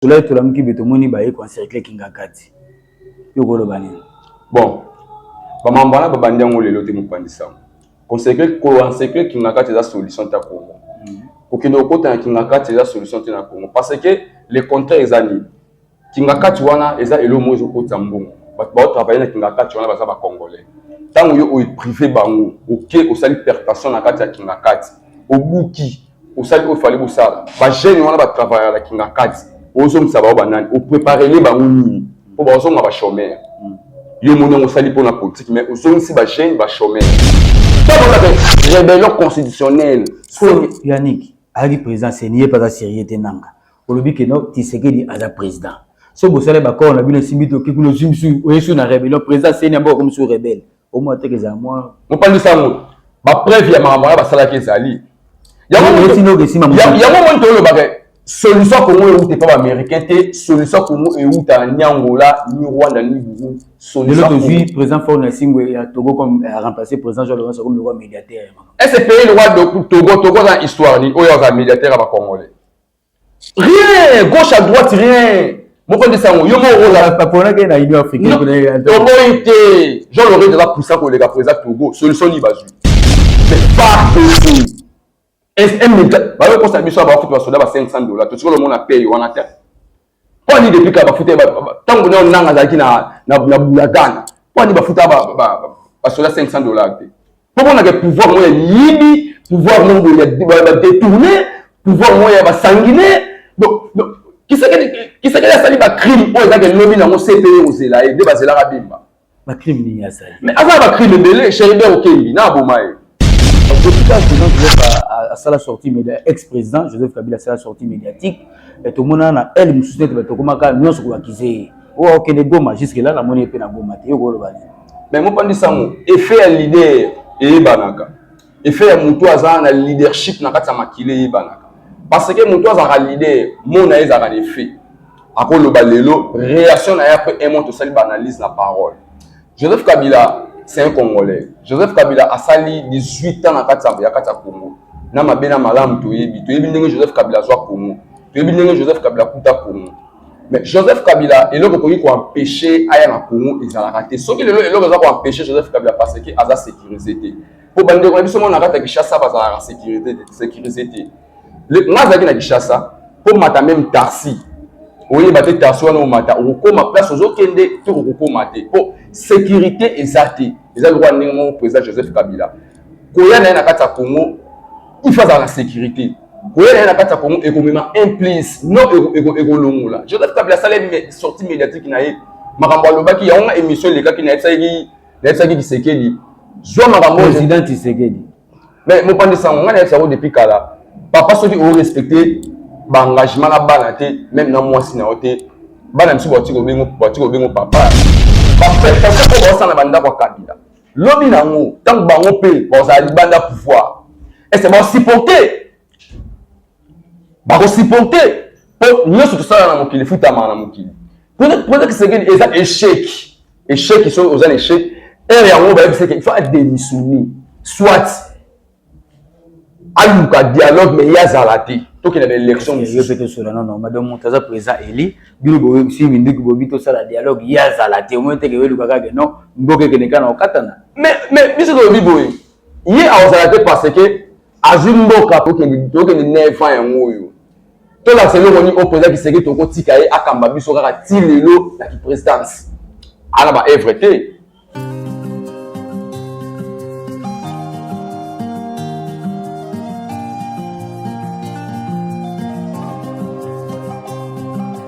tolai tolamuki be tomoni baye koencercle kingakati yo koloba nini bon bamambo wana babandi yango lelo te mopanzi sango koencercle kingakati eza solution ta kongo mm. kokende kokota na kingakati eza solution te na kongo parce que le contraire eza nini kingakati wana eza elo moko ezokotisa mbongo bato baotravaille na kingakati wana baza bacongolais ntango yo oeprive bango oke osali pertation na kati ya kingakati obuki osali oyo fali bosala ba jeune wana ba travailler la kingakati ozongisa bango banani opreparele bango nini mpo bazonga ba chomere yo moni yango osali mpona politike mais ozongisi ba jeune ba chomere rebellion constitutionnelle yannick ayaki président seni ye mpe aza sérieux te nanga olobi ke no tisekedi aza président so bosali bakor na bino esimbi toki kuna ozwi misu oyesu na rebellion président seni yango akomi su rebelle mopanzi sango bapreuve ya makambo wana basalaki ezali yango moni tolobaka solution ya kongo euta epa baaméricain te solution ya kongo euta ni angola ni rwanda ni burundi lelo tozwi président fort na esimbo ya togo comme euh, remplacer président jean lorenzo comme lokwa médiataire ese pays lokwa togo togo aza na histoire nini oyo aza médiataire ya bacongolais rien gauche à droite rien moko ndisa yango yo moko ozalaponaki na union africainetoboyi te jean lore eza puissant koleka po eza togo solution nini bazwi mais pas possible sm bayokosa biso ya baokupe basoda ba 500 dollars tosikola omona paye wana te Mpo nini depuis kala bafuta ntango na nanga azalaki na bulakana mpo nini bafuta basoda 500 dollars te mpo monaka pouvoir moko ya miyibi pouvoir moko ya badetourne pouvoir moko ya basangine kisekedi asali bacrime oyo ezalaki elobi nango cpe kozela ye nde bazelaka bimba ba crime nini asali mais aza ba crime ebele Cherubin Okendi na aboma ye depuis quand président Joseph asala sortie média ex président Joseph Kabila asala sortie médiatique tomona na aile mosusu neti bato tokomaka nyonso koakize ye oyo oh, akende Goma jusque là namoni ye mpe na Goma te yo koloba nini mais mopandi sango effet ya leader eyebanaka effet ya moto aza na leadership na kati ya makila eyebanaka parce que moto azalaka leader mo na ye ezalaka na effet akoloba lelo réaction na ye après un mois tosali baanalyse na parole joseph kabila c'est un congolais joseph kabila asali 18 ans na kati ya kati ya congo na mabe na malamu toyebi toyebi ndenge joseph kabila azwa congo toyebi ndenge joseph kabila akuta congo mais joseph kabila eloko ekoki koempeshe aya na congo ezalaka te soki lelo eloko eza koempeshe joseph kabila parce que aza sécurise te mpo bandeko na biso moko na kati ya kinshasa bazalaka sécurisé te nga azalaki na kinshasa mpo mata meme taxi oyeba te taxi wana omata okokoma place ozokende to okokoma te mpo sécurité eza te eza lokola ndenge moko président joseph kabila koya na ye na kati ya congo ifa azala na sécurité koya na ye na kati ya congo ekomema implice no ekolongola joseph kabila asala sortie médiatique na ye makambo alobaki yango nga émission elekaki na ye bisalaki nayebisaki kisekedi zwa makambo président kisekedi mais mopanzi sango ngai nayebisa yango depuis kala papa soki orespecte baengagement na bana te meme na mwasi na yo te bana biso bati kobengo bati kobengo papa baprestation oyo baosala na bandako ya kabila lobi na yango ntango bango mpe bazala libanda pouvoir ese baosupporte bakosiporte mpo nyonso tosala na mokili efutamaka na mokili mpona kisekeli eza echec echec soki oza na echec heure yango bayebisaki il faut adémissionner soit aluka dialogue mais ye azala te tokende na élection mosusu tosola nono madame moto aza président eli bino boyebisi minduki bobi tosala dialogue ye azala te omoni teke weluka kaka non mboka ekende kaka na kokatana mais biso tolobi boye ye akozala te parce que azwi mboka tokende nefa yango oyo tolakisa eloko nini oyo président kiseke tokotika ye akamba biso kaka ti lelo na kiprésidence ana ba evre te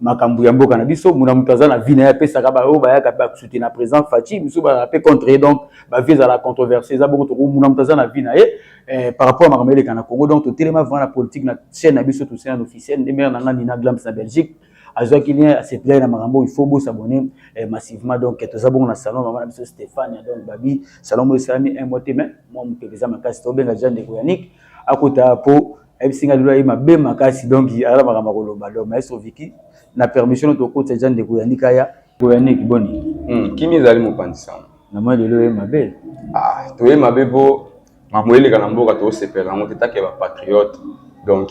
makambo ya mboka na biso muna moto aza na vie na ye apesaka baoyo bayaka mpe akusute na président faci mosusu bazala mpe contre ye donc bavie ezala controverse eza bongo toko muna moto aza na vie na ye eh, par rapport ya makambo eleka na congo donc totelema vraiment na politique na chaîne na biso tosena na officiel nde mare na ngai nina glams na belgique azwaki lien aseplai na makambo oyo faut bosabone eh, massivement donc eh, toza bongo na salon mama na biso stéphane donc babi salon oyo esalami un mois te mais mwa mopepe eza makasi tobenga jean ndeko yanik akota mpo ayebisi ngai lelo aye mabe makasi donc azala makambo akoloba donc maestro viki na permission no tokotisa deja ndeko yaniki aya yaniki boni hmm, kimi ezali mopanzi sango namoni lelo oye mabe ah, toye mabe mpo makambo eleka na mboka tosepela yango te take bapatriote donc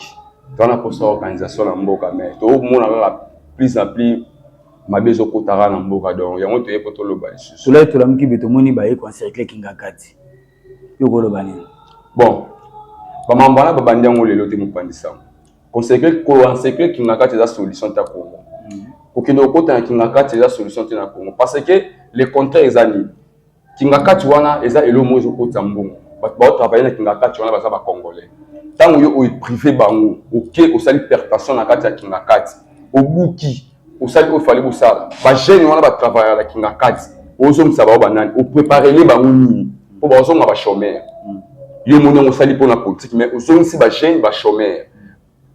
toza na mposa ya organisation na mboka mais tomona kaka plus na plus mabe ezokotaka na mboka donc yango toye mpo toloba lisusu tolai tolamuki be tomoni baye koencercle kingakati yo koloba nini bon bamambo wana babandi yango lelo te mopandisango consecre koansecre kingakati eza solution ta congo mm. kokende kokota na kingakati eza solution te na congo parce que le contraire eza nini kingakati wana eza elo moko ezokotisa mbongo bato baotravaille na kingakati wana baza bacongolais ntango yo oeprive bango oke osali pertation na kati ya kingakati obuki osali oyo fali bosala ba jeune wana ba travailler la kingakati ozongisa bango banani opreparele bango nini mpo bazonga ba chomere yo omoni yango osali mpo na politiki mais ozongisi ba jeune ba chomere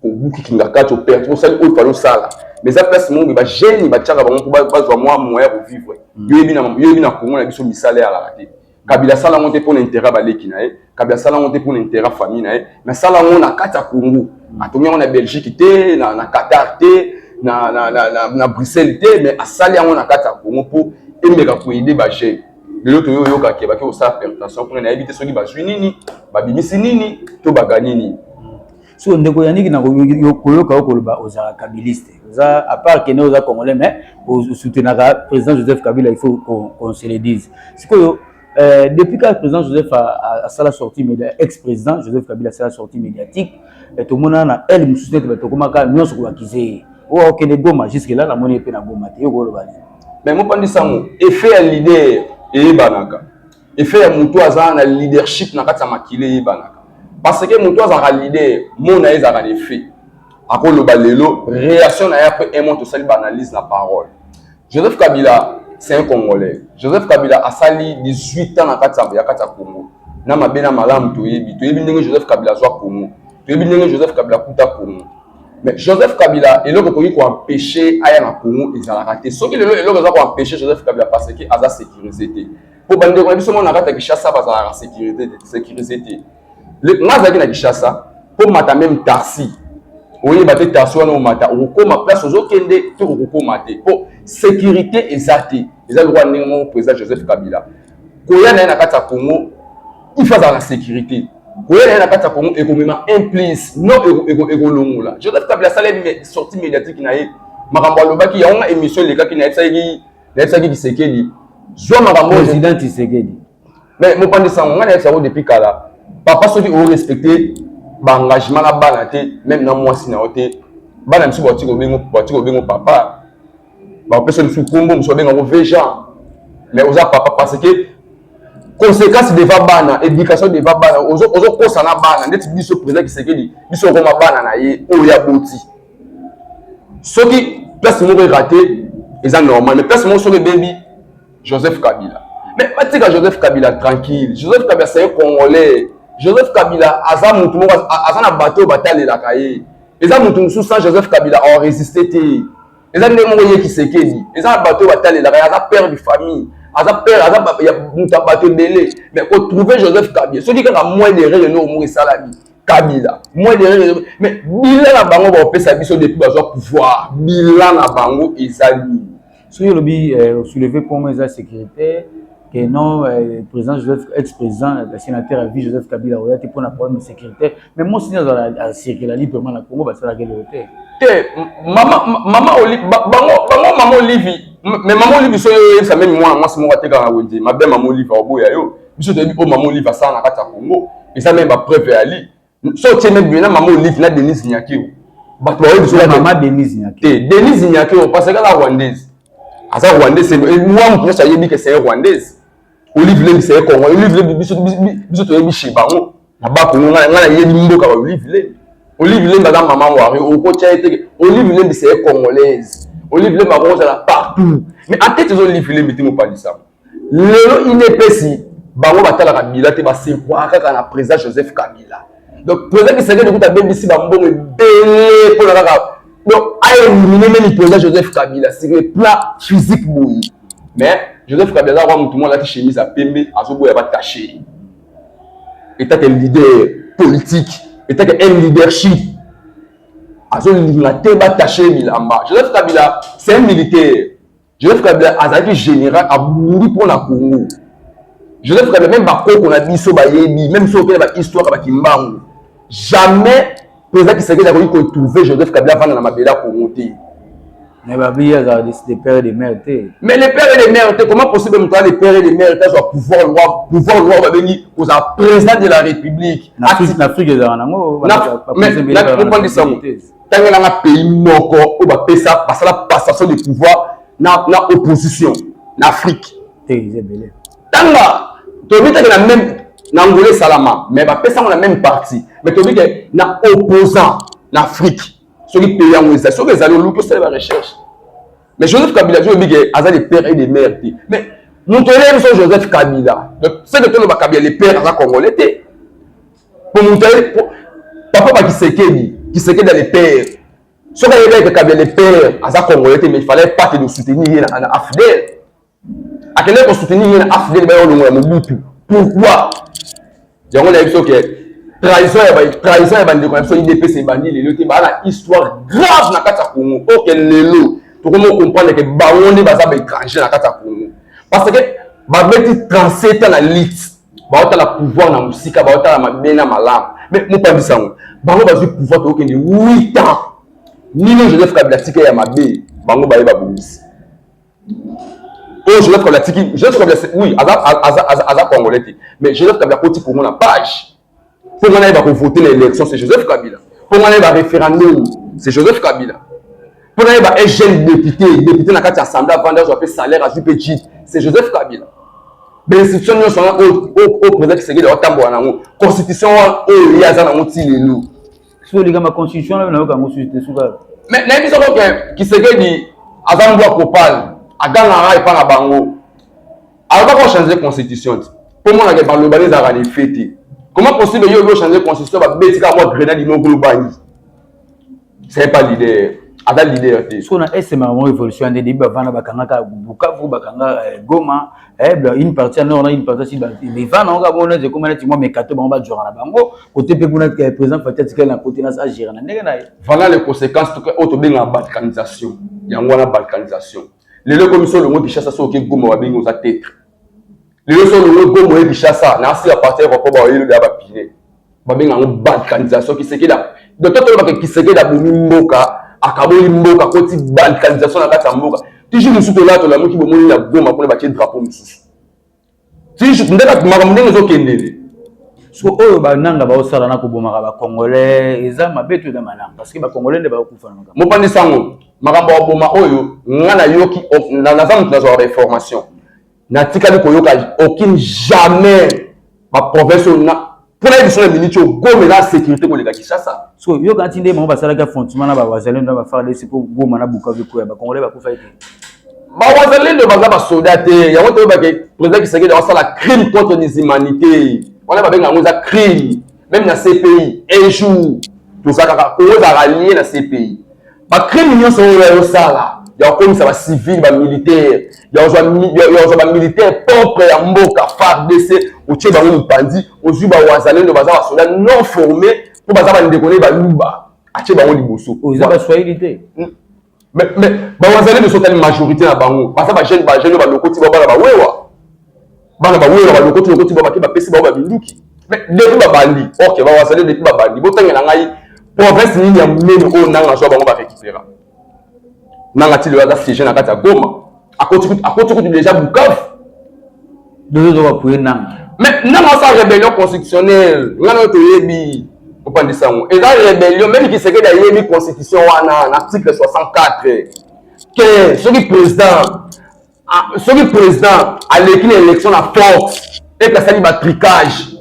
obuki kingakati operte osali oyo fali osala mais eza place moko ba jeune batiaka bango mpo bazwa mwa moya kovivre yo yebi na congo na biso misala eyalaka te kabila asala yango te mpo na intérêt ya baleki na ye kabila asala yango te mpo na intérêt ya famille na ye mais asala yango na kati ya congo atongi yango na belgique te na, na qatar te na, na, na, na, na bruxelles te mais asali yango na kati ya congo mpo emeka koyede bajeune lelo toyo oyoka ke bake kosala permutation kuna nayebi te soki bazwi nini babimisi nini to bagani nini siko ndeko yaniki na koyoka yo koloba ozalaka kabiliste oza apart kende oza congolais mais osoutenaka président joseph kabila il faut qu'on se le dise sikoyo euh, depuis kaka président joseph asala sortie média ex président joseph kabila asala sortie médiatique euh, tomonana na ele mosusu nete bato okomaka nyonso kobakize ye oyo okende goma jusque là namoni ye mpe na goma te yo koloba nini mais mopandi sango effet ya leader eyebanaka effet ya moto aza na leadership na kati ya makila eyebanaka parce que moto azalaka leader mo na ye ezalaka na effet akoloba lelo réaction na ye après un mois tosali baanalyse na parole joseph kabila c'est un congolais joseph kabila asali 18 ans na kati ya kati ya congo na mabe na malamu toyebi toyebi ndenge joseph kabila azwa congo toyebi ndenge joseph kabila akuta congo mais joseph kabila eloko ekoki koempeshe aya na congo ezalaka te soki lelo eloko eza koempeshe joseph kabila parce que aza sécurise te mpo bandeko na biso moko na kati ya kinshasa bazalaka sécurisé te nga azalaki na kinshasa mpo mata meme taxi oyeba te taxi wana omata okokoma place ozokende to okokoma te mpo sécurité eza te eza lokola ndenge moko président joseph kabila koya na ye na kati ya congo ifa azala na sécurité koya na ye na kati ya congo ekomema implice no ekolongola joseph kabila asali sortie médiatique na ye makambo alobaki yango nga émission elekaki na ye bisalaki nayebisaki kisekedi zwa makambo président kisekedi mais mopanzi sango ngai nayebisa yango depuis kala papa soki orespecte baengagement na bana te meme na mwasi na yo te bana biso bati kobengo papa bapesa biso nkombo mosu babengako vejan mais oza papa parce que conséquence deva bana éducation deva bana ozokosa na bana ndeti biso président kisekedi biso okoma bana na ye oyo aboti soki place moko erate eza normal mais place moko soki ebebi joseph kabila mais batika joseph kabila tranquille joseph kabila saye congolais joseph kabila aza motu moko aza na bato oyo batalelaka ye eza motu mosusu sans joseph kabila aresiste te eza ndenge moko ye kisekedi eza na bato oyo batalelaka ye aza père de famille aza père aza moto ya bato ebele mais kotrouve joseph kabila soki kaka moyen de rele noko moko esalami kabila moins derrière mais bilan na bango baopesa biso depuis bazwa pouvoir bilan na bango eza nini soki olobi euh, souleve congo eza sécurité que non euh, président joseph ex président euh, sénateur ya vie joseph kabila oya te mpo na problème sécurité mais mosi nini azala acircula librement na congo basalaki eloko te te mama mama oli bango bango mama olivi mais mama olivi soki oyebisa meme mwana mwasi moko atekaka wenze mabe mama olivi aoboya yo biso toyebi oyo mama olive asala na kati ya congo eza meme bapreuve ya li so otie meme bina mama olive na denise nyakeo bato bayebi biso mama denise nyakeo te denise nyakeo parce que la rwandaise aza rwandaise mwa moto nyonso ayebi ke c'est rwandaise olive lembi c'est congo olive lembi biso biso toyebi chez bango na bakongo ngai nayebi mboka ba olive lembi olive lembi aza mama wari okotya ye te olive lembi c'est congolaise olive lembi akozala partout mais atete eza olive lembi te mopalisama lelo inepesi bango batalaka bila te basekwaka kaka na président joseph kabila donc président kisakedi kuta abebisi bambongo ebele mpona kaka donc aelimine meme président joseph kabila sur le plan physique boye mais joseph kabila aza kwa motu moko alati chemise ya pembe azoboya batache etake leader politique etake un leadership azolinga te batache bilamba joseph kabila c'est un militaire Joseph Kabila azalaki général abundi mpo na Congo. Joseph Kabila meme bakoko na biso bayebi meme soki okende bahistoire ya bakimbangu jamais président Kisekedi akoki kotrouve Joseph Kabila avanda na mabele ya Congo te. Mais babi azala de père et de mère te. Mais le père et de mère te comment possible moto aza le père et de mère te azwa pouvoir loi pouvoir loi babengi kozala président de la république. Na Afrique ezala nango. Mais na comprendre sango. tangela nga pays moko oyo bapesa basala passation de pouvoir na, na opposition na afrique tanga toyebi teke na même na angola esalama mais bapesango na même parti mais toyebi ke na opposant na afrique soki pays yango ezali soki ezali oluki osala ba recherche mais joseph kabila ti oyebi ke aza de père et de mère te mais moto oyeli biso joseph kabila donc seke toloba kabila le père aza congolais te po moto aye papa ba kisekedi kisekedi ya le père soki ayebaki kakabi ya le père aza congolais te mais il fallait pas que de soutenir ye na afdel akende ko soutenir ye na afdel baye olongola mobutu pourquoi yango nayebi soki trahison ya ba trahison ya bandeko na biso idps ebandi lelo te baa na histoire grave na kati ya congo oke lelo tokomi okomprendre ke bango nde baza baétranger na kati ya congo parce que babeti 37 ans na lite baotala pouvoir na mosika baotala mabe na malamu me mopanzi sango bango bazwi pouvoir tokokende 8 ans nino joseph kabila tika ya mabe bango baye babongisi oyo joseph kabila tiki joseph kabila oui aza, aza, aza, aza congolais te mais joseph kabila akoti kongo na page mpo ngai nayeba kovote na élection c'est joseph kabila mpo ngai nayeba référendum c'est joseph kabila mpo nayeba un jeune député député na kati ya assemblée avandi azwa mpe salaire azwi mpe jit c'est joseph kabila bainstitution nyonso wana oyo président kisekedi aotambola na yango constitution wana oyo ye aza na yango ti lelo soki olikama constitution nayo nayoka yango susu te suka mais nayebi soko ke kisekedi aza mbwa kopale agangaka epai na bango aloba ko changer constitution ti po mona ke baloba ni zaka ni fete comment possible yo yo changer constitution ba beti ka mwa grenade no ko bani c'est pas leader aza leader te so na est ma mo révolution ande debi bavana bakanga ka bukavu bakanga eh, goma eh une partie nord na une partie sud mais vana on ka bona je comme na timo mekato bango ba jora na bango côté pe kuna que président Fatih Tikal na côté na sa gérer na ndenge na voilà les conséquences to auto benga balkanisation yango na balkanisation lelo ekomi so olongwe kinshasa so oke goma babengi oza tetre lelo so olongwe goma oye kinshasa na asila parti ya bakoba oyelobi ya bapine babenga yango balkanisation kisekeda donc totolobaka kisekeda bomi mboka akaboli mboka akoti balkanisation na kati ya mboka tiji mosusu tolaa tolamuki bomoni na goma kuna batie drapeau mosusu Tijou, nde bato makambo ndenge ezokendele. so oyo bananga baosala na kobomaka bacongolais eza mabe to eza malamu parce que bacongolais nde baokufa na makambo mopandi sango makambo ya koboma oyo nga nayoki naza moto nazwaka bainformation natikali koyoka okini jamais baprovince oyo mpo nayebi biso na miniti oyo goma eza sécurité koleka kinshasa so yoka nti nde bango basalaki affrontement na bawazalendo na bafardc mpo goma na bukavu ekoya bacongolais bakufaki te bawazalendo baza basoda te yango toyebake président kisekedi akosala crime contre les humanités wana babenga yango eza crime meme na cpi un jour tozalaka oyo ezalaka lie na cpi bakrime nyonso oyo ayosala ya kokomisa bacivile bamilitaire ya kozwa bamilitaire propre ya mboka fardc otye bango mopanzi ozwi bawazalendo baza basoda non forme mpo baza bandeko ne baluba atye bango liboso oza baswahili te hmm. bawazalendo soki ali majorité na bango baza bajeune bajeune balokoti babala bawewa bana bawela balokoti lokoti ba bake bapesi bango baminduki mais depuis babandi ok bawasale depuis babandi botangela ngai province nini ya monene oyo nanga azwa bango barécupéra nanga ti lelo aza siege na kati ya goma akoti kutu déjà bukavu mais nanga asa rébellion constitutionnelle ngai nayo toyebi opandisa yango eza rébellion meme kisekedi ayebi constitution wana na article 64 ke soki président Ah, soki président aleki na élection na force ete asali batricage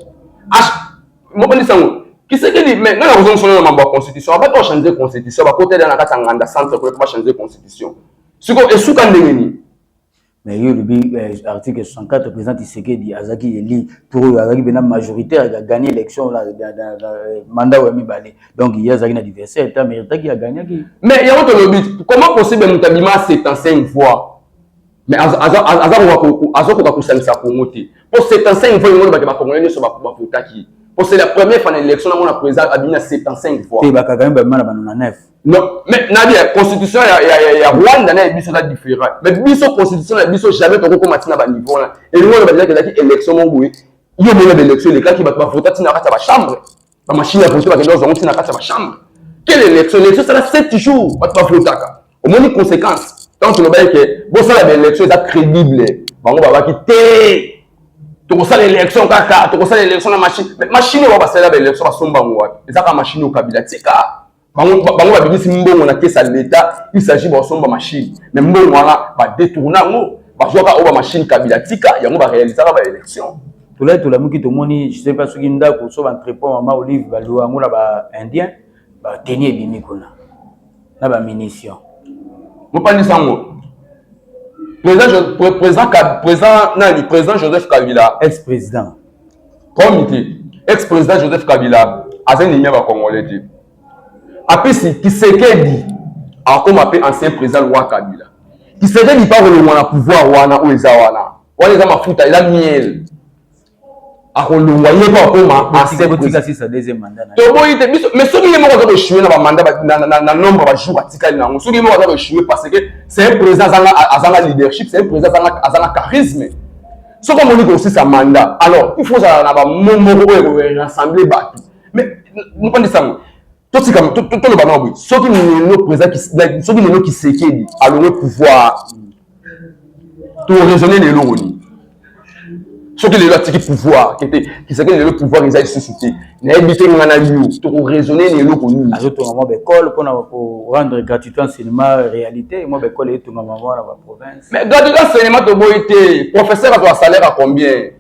mokanisi yango kisekedi me ngai nakozongi solo na mambo ya constitution abaki bachange constitution bakotela na kati ya nganda centre koleka bachange constitution sikoyo esuka ndenge nini mais yo olobi eh, article 64 président tisekedi azalaki eli tour oyo azalaki mpena majoritaire ya gagner élection na mandat oyo ya mibale donc ye azalaki na diverse ata meritaki agagnaki mais yango tolobi comment possible moto abima 75 fois mais azokoka kosangisa congo te mpo 75 fois yango bato bakongole nyonso bavotaki mpo c'est la première fois na élection namona président abimi na 75 fois te bakagami babima na bano na 9 non mais nabi ya constitution ya rwanda na ya biso eza différent mais biso constitution na biso jamais tokokoma ntina baniveau wana elingo oyo bazelaki ezalaki élection moko boye yo mona baélection elekaki bato bavota ntina kati ya bachambre ba machine ya police bakende kozwa ntina kati ya bachambre quelle élection élection esala 7 jours bato bavotaka omoni conséquence ntango tolobaki ke bosala baélection eza crédible bango babaki te tokosala élection kaka tokosala élection na machine machine oyo basalela baélection basomba yango wapi eza kaka machine oyo kabila tika bango bango babimisi mbongo na kesa leta il s'agit basomba machine mais mbongo wana badetourna yango bazwaka oyo bamachine kabila tika yango barealisaka baélection tolai tolamuki tomoni je sais pas soki ndako so baentrepont mama olive baliwa yango na baindien bateni ebimi kuna na bamunition mopandisa yango président président président nani président joseph kabila ex président komite ex president joseph kabila aza ennemi ya bacongolais te apesi kisekedi akoma mpe ancien président loi kabila kisekedi mpe akolongwa na pouvoir wana oyo eza wana wana eza mafuta eza miel akolongwa ye mpe akoma toboyi te biso mais soki ye moko aza koechue na bamanda na nombre ya bajour atikali na yango soki ye moko aza koechue parce que c'est un président azanga leadership c'est un président azanga charisme soki omoni kosisa manda alors il faut ozala na bamo moko oyo ekorassembler bato mais mopandisa yango totika toloba nao boye soki lelo président soki lelo kisekedi alongo pouvoir toraisonne lelo oni soki lelo atiki pouvoir kete kisekedi lelo pouvoir eza lisusu te nayebi te nga na yo tokoraisonne na eloko nini azotonga mwa baekole mpona korendre gratuité en cinéma réalité mwa baekole eyetongama mwa na baprovince mais gratuité en cinéma toboyi te professeur azwa salaire a combien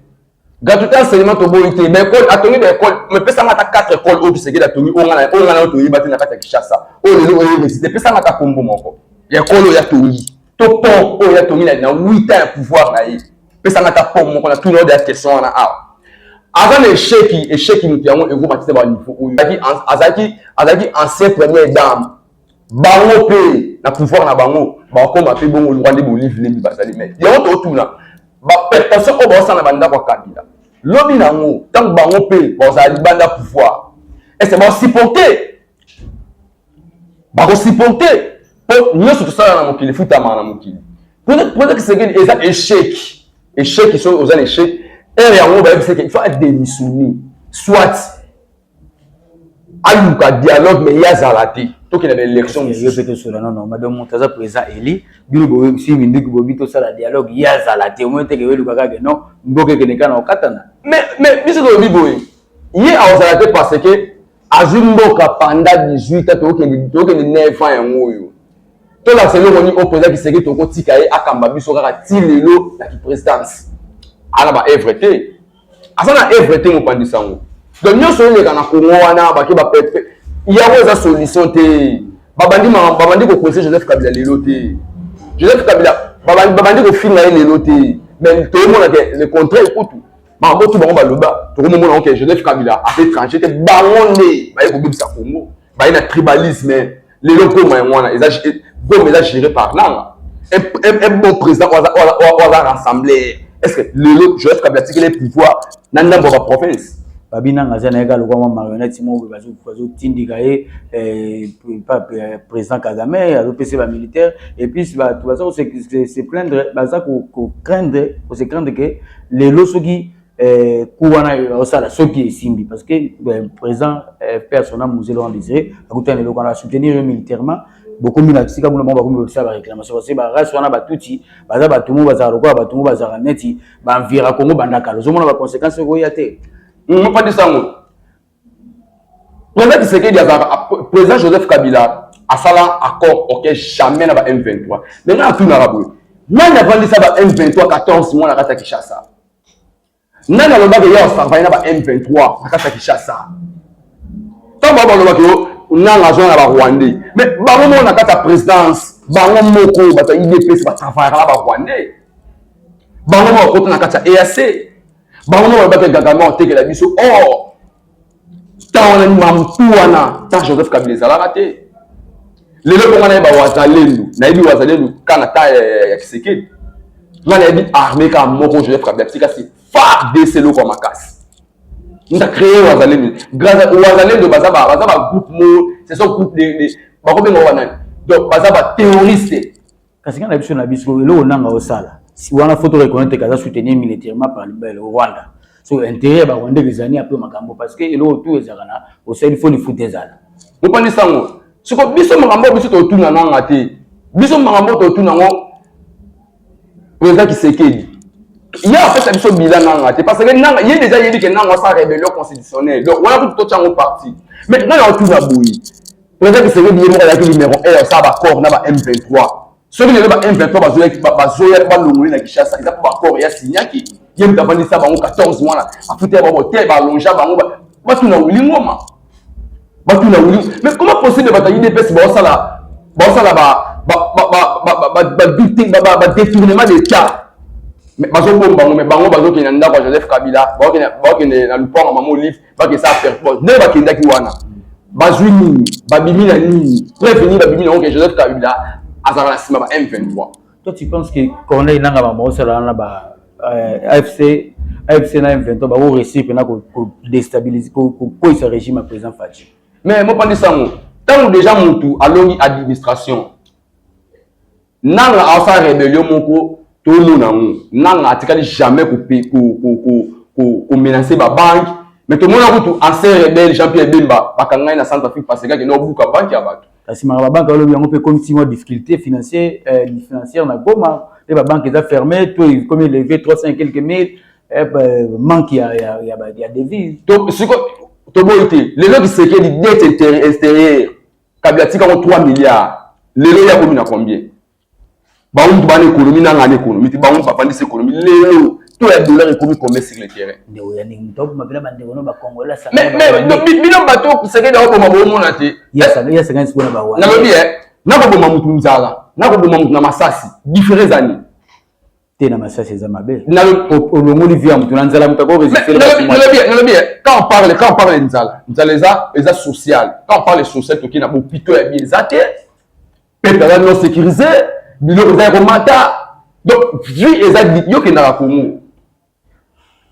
gratuité en cinéma toboyi te baekole atongi baekole mepesanga ata 4 ekole oyo bisekeli atongi oyo nga na yo toyeba te na kati ya kinshasa oyo lelo oyo université pesanga ata kombo moko ya ekole oyo atongi to pont oyo ya tongi na na 8 ans ya pouvoir na ye pesa nga ta pont moko na tuna de question wana awa aza na esheki esheki moto yango ekomatisa ba niveau oyo azalaki azalaki ancien première dame bango mpe na pouvoir na bango bakoma mpe bongo lokwa nde bolive lebi bazali mai yango totuna bapertation oyo baosala na bandako ya kabila lobi na yango ntango bango mpe bakozala libanda pouvoir ese baosupporte bakosiporte mpo nyonso tosala na mokili efutamaka na mokili mpona kisekeli eza echec echec soki oza na echec heure yango bayebisaki il faut adémissionner soit aluka dialogue mais ye azala te tokende na élection mpe tosola nono madame moto aza président eli bino boyebisi minduki bobi tosala dialogue ye azala te omoni teke weluka kaka non mboka ekende kaka na kokatana mais biso tolobi boye ye akozala te parce que azwi mboka panda 18 a tokende 9 ans yango oyo tolakisa eloko nini oyo président kiseke tokotika ye akamba biso kaka ti lelo na kiprésidence ana ba evre te aza na evre te mopanzi sango donc nyonso eleka na kongo wana bake bapepe yango eza solution te babandi babandi kokonse joseph kabila lelo te joseph kabila babandi kofinga ye lelo te mais toomona ke le contraire kutu Maman botu bango baloba tokomomona yango ke Joseph Kabila aza étranger te bango nde baye kobebisa Congo baye na tribalisme lelo goma yango wana eza goma eza géré par nanga un bon président oyo aza rassembler est ce que lelo Joseph Kabila atikeli pouvoir na ndambo ya baprovince babi nanga aza nayeka lokwa mwa marionnette moko bazotindika ye eh, eh, président kagame azopesa bamilitaire epuis bato baza kose plaindre baza kocraindre kose craindre ke lelo soki eh, ku wana osala soki esimbi parce que eh, président eh, père sona musée laurent désiré akutana eloko wana soutenir yo militairement bokomi na sika kuna bango bakomi kosala baréclamation parce que barace wana batuti baza bato mo bazala lokola bato mo bazalaka neti banvira congo bandakala ozomona baconséquence ekoya te mopandisa yango President Tshisekedi azalaka President Joseph Kabila asala accord ok jamais na ba M23 mais nga natunaka boye nani avandisa ba M23 14 mois na kati ya Kinshasa nani alobaka ye asavai na ba M23 na kati ya Kinshasa ntango bango balobaka yo nanga azwa na ba Rwandais mais bango moko na kati ya présidence bango moko bato ya IDPS batravayaka na ba Rwandais bango moko bakota na kati ya EAC bango moko babaki gagama otekela biso or oh! ntango wana mampu wana ntango joseph kabila ezalaka te lelo mpo ngai nayebi bawazalendu nayebi wazalendu kaka na ntango ya kisekedi ngai nayebi arme kaka moko joseph kabila tikasi fardc eloko ya makasi nda créer wazalendu wazalendu baza bagroupe moko ce sont groupe bakobenga wana donc baza baterroriste Kasi nga na biso na biso eloko nanga osala wana faut reconnaître kaza soutenir militairement par le Rwanda so intérêt ya ba Rwanda ezali un peu makambo parce que eloko tout ezalaka na osali faut lifuta ezala bopani sango siko biso makambo biso totuna nanga te biso makambo totuna ngo président Kisekedi ye apesa biso bila nanga te parce que nanga ye deja yebi ke nanga asala rebellion constitutionnelle donc wana kutu totya ngo parti mais ngai naotuna boye President Tshisekedi ye moko azalaki numero 1 ya kosala baccord na ba M23 soki lelo ba M23 bazoyaki bazoya balongoli na Kinshasa eza mpo baccord ya signaki ye moto avandisa bango 14 mwana afuta bango te balonja bango batuna wili ngoma batuna wili mais comment possible bato ya udps baosala baosala badetournement d'état bazobomba bango mais bango bazokende na ndako ya joseph kabila baokende na lupango mama olive bakesa perpose ndenge bakendaki wana bazwi nini babimi na nini preuve nini babimi na oke joseph kabila azalaka na nsima ba m23 toi tu penses que corneille nanga bamaosalana na ba euh, afc afc na m23 bakoresir mpena kodestabilise kokweyisa régime ya président faci mais mopandisa yango ntango déjà motu alongi administration Nanga asala rebellion moko tomona yango. Nanga atikali jamais ko ko ko ko ko, ko menacer ba banque mais tomona kutu ancien rebelle Jean Pierre Bemba bakanga ye na centre Afrique parce que akende obuka banque ya bato. Kasi maka ba banque alobi yango pe ekomi ti mwa difficulté financier eh, financière na Goma pe ba banque eza ferme to ekomi eleve 300 et quelques mille eh, manque ya ya ya, ya devise. To siko toboyi te lelo kisekedi dette extérieure kabila tika ngo 3 milliards lelo ya komi na combien bango mutu bana ekonomi nanga na ekonomi te bango bavandisi ekonomi lelo to ya dollar ekomi combien sur le terrain bino bato sekedi akoboma bomona te nalobi eh, nakoboma mutu nzala nakoboma mutu na masasi difference ani te na masasi eza mabe olongoli vie ya motu na nzala moto akoresistnalobi quand on parle quand on parle nzala nzala eza eza social quand on parle social toki na bopito ya bie eza te pepe aza non sécurisé biloko eza ya komata donc vie eza yokendaka kongo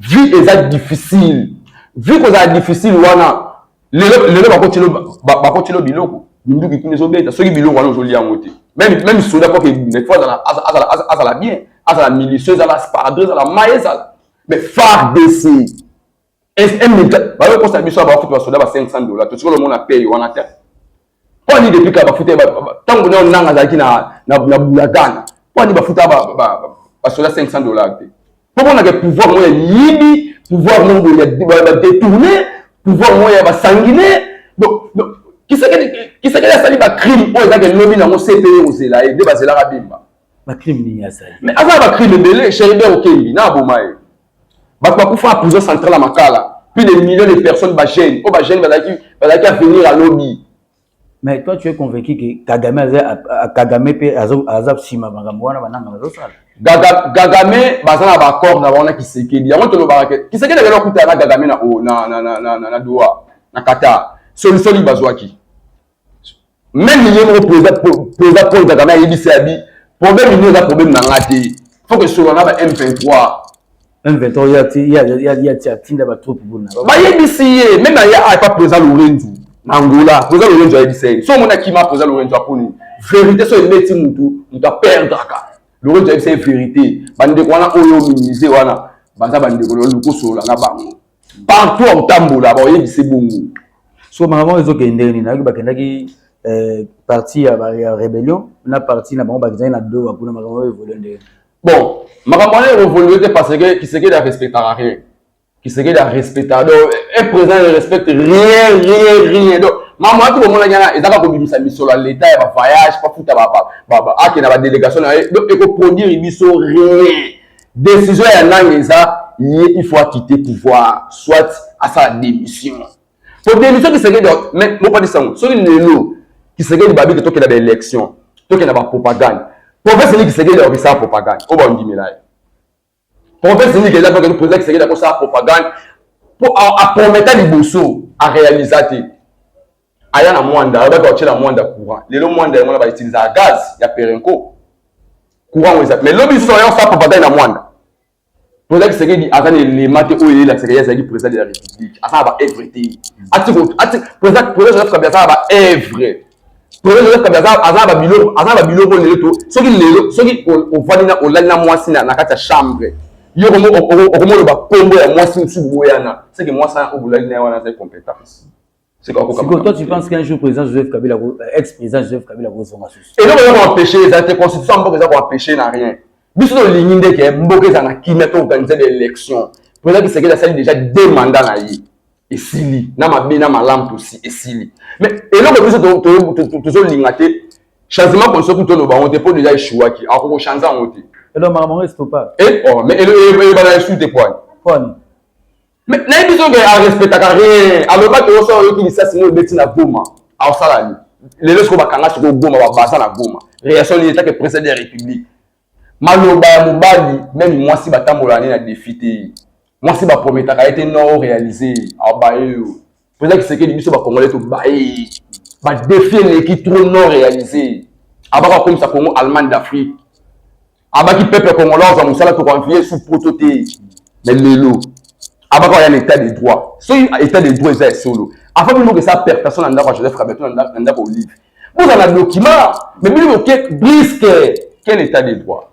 vie eza difficile vie kozala difficile wana lelo lelo bakotilo bakotilo biloko minduki kuna ezobeta soki biloko wana ozolia yango te meme meme soda mpo kebunda il faut azala azala azala bien azala milice ezala sparadre ezala mai ezala mais fardc bayokosa biso ya bakutu basoda ba 500 dollars totikolo omona peye wana te Mpo nini depuis kala bafuta ntango na nanga azalaki na bulakana mpo nini bafuta basoda 500 dollars te mpo monaka pouvoir moko ya liyibi pouvoir moko ya badetourne pouvoir moko ya basangine kisekeli asali bacrime oyo ezaki elobi nango cpe kozela ye nde bazelaka bimba bacrime nini asali mais aza na bacrime ebele cheribe okendi na aboma ye bato bakufa na prison centrale ya makala plus de millions de personnes bagene oyo bagene bazalaki avenir ya lobi mais toi tu es convaincu que kagame kagame mpe aza nsima makambo wana bananga bazosala gagame baza na baaccord na bango na kisekedi yango tolobaka ke kisekedi akenda okutana na gagame na doha na qatar solisoli bazwaki meme ye moko president paul kagame ayebisi abi problème nini eza problème na nga te faut que solola na ba m23 M23 yati yati atinda ba troupe buna bayebisi ye meme aye a pas présent Lorenzo na Angola présent Lorenzo ayebisa ye so omona kima présent Lorenzo aponi vérité so ebeti mutu mutu aperdraka Lorenzo ayebisa ye vérité bandeko wana oyo minimise wana baza bandeko lokoso olanga bango partout akotambola bakoyebisa ebongo so makambo ezokende ndenge nini nayoki bakendaki eh, parti ya rébellion na parti na bango bakendaki na doha kuna makambo oyo evolue ndenge bon makambo wana evolue te parce que kisekedi arespectaka rien kisekedi arespectaka donc un président ne respecte rien rien rien donc makambo wana tokomonaki wana ezaka kobimisa misolo ya leta ya bavoyage bafuta akenda badélégation na ye donc ekoproduire biso rien Decision ya nanga eza ye il faut akite pouvoir soit asala démission po démission kisekedi mais bopanisa yango soki lelo kisekedi babiki tokenda baélection tokenda bapropagande province nini kisekedi akokisala propagande oyo baondimela ye province nini kenda tokende président kisekedi akosala propagande po aprometa liboso aréalisa te aya na mwanda alobaki akotyela mwanda courant lelo mwanda yango na bautilisaka gaz ya perenco courant yango eza mais lobi lisusu aya kosala propagande na mwanda président kisekedi aza na elema te oyo eyelakisaka ye azalaki président de la république asala ba evre te président joseph kabila asala ba evre président joseph kabila aza na babiloko aza na babiloko lelo to soki lelo soki ovandi na olali na mwasi na kati ya chambre yo okomoloba nkombo ya mwasi mosusu boyana seke mwasi wana obolali na ye wana azali compétence sikoyo toi tu penses qu'un jour président joseph kabila ex président joseph kabila kozonga susu eloko eza koempêche eza te constitution ya mboka eza koempêche na rien biso tolingi nde ke mboka eza na kimia to organise ba élection président kisekeli asali déjà deux mandat na ye esili na mabe na malamu tosi esili mais eloko biso tozolinga te changement constitution kutu toloba yango te mpo déjà eshuwaki akoki kochange yango te eloko makambo yango estopa eh, oh, mais elobana esu te pwani Mais nayebi biso ke a respectaka rien alobaki oyo soki oyoki lisasi moko ebeti na goma aosala nini lelo sikoyo bakanga sikoyo goma babaza na goma reaction nini etake president de la république maloba ya mobali meme mwasi batambolaka nde na defi te mwasi baprometaka ye te non orealize abaye yo Président Tshisekedi biso ba Congolais to baye ba défi eleki trop non réalisé abaka akomisa Congo Allemagne d'Afrique abaki peuple congolais azwa mosala tokoanviye sous poto te mais lelo abaka oya na état de droit soki état de droit eza ya solo afa bino moko esa pertation na ndako ya Joseph Kabila to na ndako Olive bozala na document mais bino boke brisque quel état de droit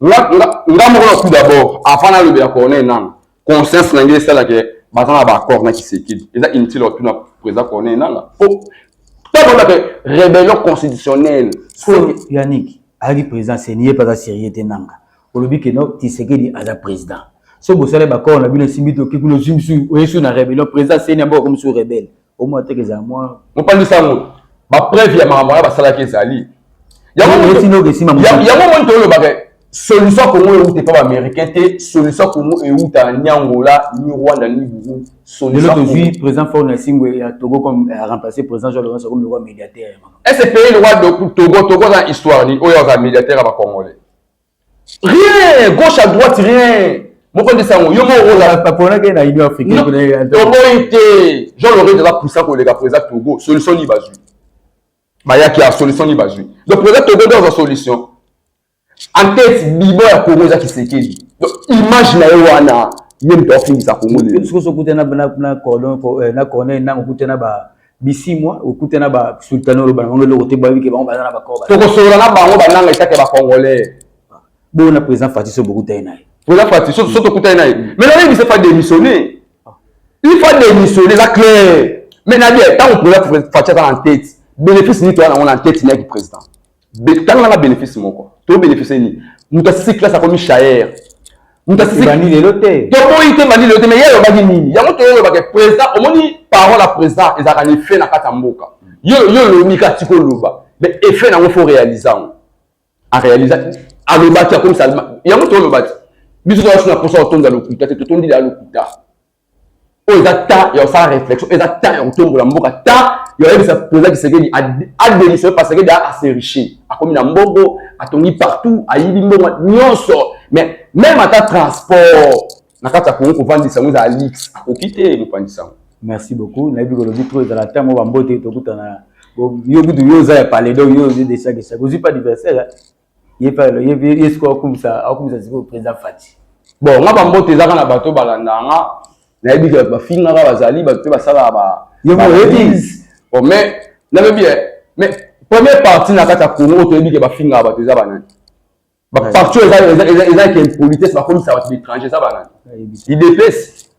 nga moko na tout d'abord avant nalobela corneille nanga conscience na ngai esala ke baza na baaccord na kisekedi eza inutile otuna président corneille nanga po ntango olobaka rébellion constitutionnelle yannick ayaki président seni ye mpe aza sérieux te nanga olobi ke no kisekedi aza président so bosala baaccord na bino esimbi toki kuna ozwi mosusu oyesu na rébellion président seni yango akomi su rebelle mopanzi sango bapreuve ya makambo wana basalaki ezali yango moni tolobaka solution ya kongo euta epa baaméricain te solution ya kongo euta ni angola ni rwanda ni burundi lelo tozwi président fort na esimbo ya togo comme euh, remplacer président jean lorenzo comme lokwa médiataire ese pays lokwa togo togo aza na histoire nini oyo aza médiataire ya bacongolais rien gauche à droite rien moko nde sango yo moko ozalaponaki na union africainetoboyi te jean lorete aza puissant koleka présa togo solution ni bazwi bayaki ya solution ni bazwi donc présa togo nde azwa solution en tête bibo ya congo eza kisekeli donc image na ye wana ye moto afingisa congo lelo soki okutana na corneille nango okutana ba bisimwa okute na ba sultana oloba na bango eloko te bayebi ke bango baza na bakoo tokosolola na bango bananga etake bacongolais bongo na président fati so bokutani na ye président fati so mm. tokutani na ye mm. mais nayebi se fa démissionne ah. il fa démissionne eza clair mais na bien ntango président fati aza na ntete bénéfice nini toya nango na ntete nayaki président Tala nanga benefice moko. To benefice ni. Moto ya six classe akomi shayer. Moto ya six bandi lelo te. To boyi te bandi lelo te mais yeye obaki nini? Yango to yolo bake président omoni parole ya président ezaka ni fait na kata mboka. Yo yo lobi ka tiko loba. Mais effet na ngo faut réaliser ngo. A réaliser a loba ki akomi salma. Yango to loba ti. Biso to asuna posa otonda lokuta te to tondi la lokuta. oyo eza temps ya kosala réflexion eza temps ya kotombola mboka temps ya koyebisa président kisekedi ademissionne parce que da aseriche akomi na mbongo atongi partout ayibi mbongo nyonso mais même ata transport na kati ya kongo kovandisa yango eza alix akoki te mopandisa yango merci beaucoup nayebi kolobi trop ezala temps moko bambote tokutana yo kutu yo oza ya palais donc yo ozi desakisaki ozwi pa adversaire ye pa lo ye ye siko akumisa akumisa siko président Fatshi bon nga ba mbote ezaka na bato balanda nga nayebi que ba finga ka bazali bato pe basala ba ye mo yebi bon mais na bebi eh, mais première partie na kata Congo to yebi que ba finga bato eza banani ba partout eza eza eza eza que impolitesse ba komisa bato d'étranger eza banani idps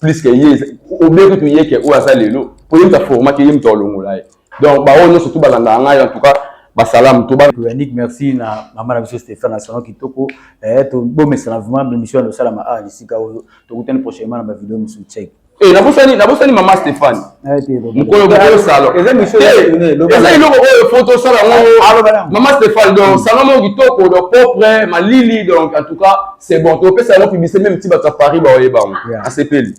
plus que ye obie kutu ye ke oyo aza lelo po ye mutu aformaki ye mutu alongola ye donc baoyo nyonso tu balandaka ngai en tout cas basalamu to yannick merci na mama na biso stéphane na salon kitoko eh, tobomesana vraiment bemission ya losalama awa lisika oyo tokutani prochainement na bavideo mosusu check e eh, nabosani nabosani mama stéphane mokolo mokolo salo eza eloko oyo fo tosala yango ah, ah, mama stéphane donc mm. salon moko kitoko donc propre malili donc en tout cas c'est bon topesa yango publicité meme ti bato ya paris baoyebango asepeli